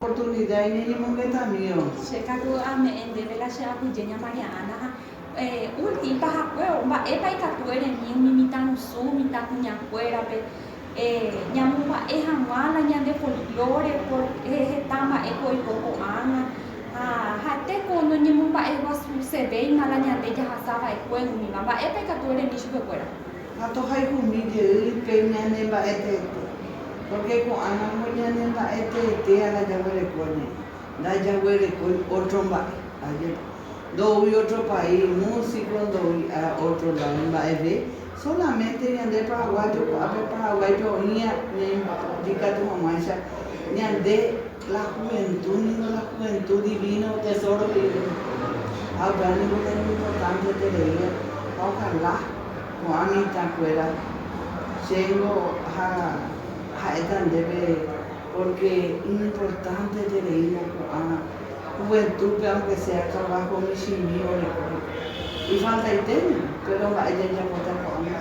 Oportunida iñeñemongetamíva. Che katu ame'ẽ ndéve la che apyje ña María Ana ha ulti pahakue o mba'épa ikatu eremi umi mitãrusu, mitãkuñakuérape ñamomba'e hag̃ua la ñande folklore por heta mba'éko oiko ko'ág̃a ha ha'ete ko noñemomba'eguasusevéima la ñande jahasava'ekue umíva. Mba'épa ikatu eremi chupekuéra? Ha tohayhumi jey pe ñane mba'e teete, pórke ko'ãramo ñane mba'e teete ára jaguereko ñe'ẽ, ndajaguerekói ótro mba'e. Ajépa, ndoúi ótro país músiko, ndoúi ára ótro ládo mba'eve, sólamente ñande paraguáyo ko'ápe Paraguáipe oĩva ñaimba'apo ikatu hag̃uáicha ñande. La juventud ningo la juventud divino tesoro rire ha upéva ningo la importante terei ha ojalá ko'ã mitãkuéra chéngo ha ha'éta ndéve porque iñimportante tereína ko'ã juventúpe aunque sea trabajo michĩmi oreko ifaltaitéño péro mba'e jajapóta ko'ág̃a.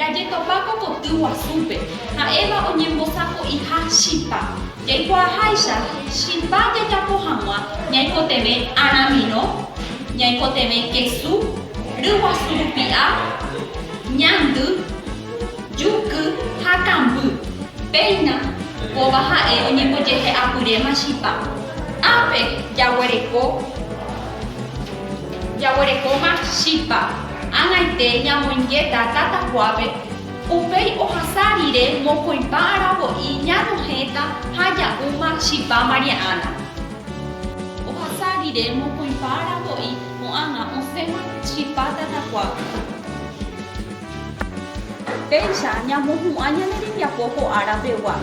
Jajetopa ko koty guasúpe, ha'éva oñembosako'iha chipa. Jaikuaaháicha chipa jajapo hag̃ua ñaikotevẽ aramirõ, ñaikotevẽ kesu, ryguasu rupi'a, ñandy, juky ha kamby, péina, kóva ha'e oñembojehe'apyréma chipa. Ápe jaguereko, jaguerekóma chipa, ag̃aite ñamoingéta tatakuápe Upéi ohasa rire mokõipa aravo'i ñanohẽta ha ja'úma chipa María Ana. Ohasa rire mokõipa aravo'i ko'ág̃a osẽma chipa tatakuágui. Péicha ñamohu'ã ñane rembiapo ko ára pegua.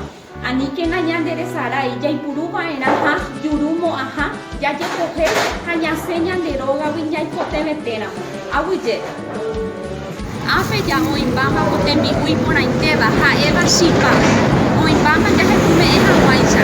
Aníkena ñanderesarái jaipuru va'erã ha juru mo'ãha jajekohe ha ñasẽ ñande rógagui ñaikotevẽ téramo. Aguyje. Ápe ja oĩmbáma ko tembi'u iporãitéva ha'éva chipa, oĩmbáma jahepume'ẽ hag̃uáicha.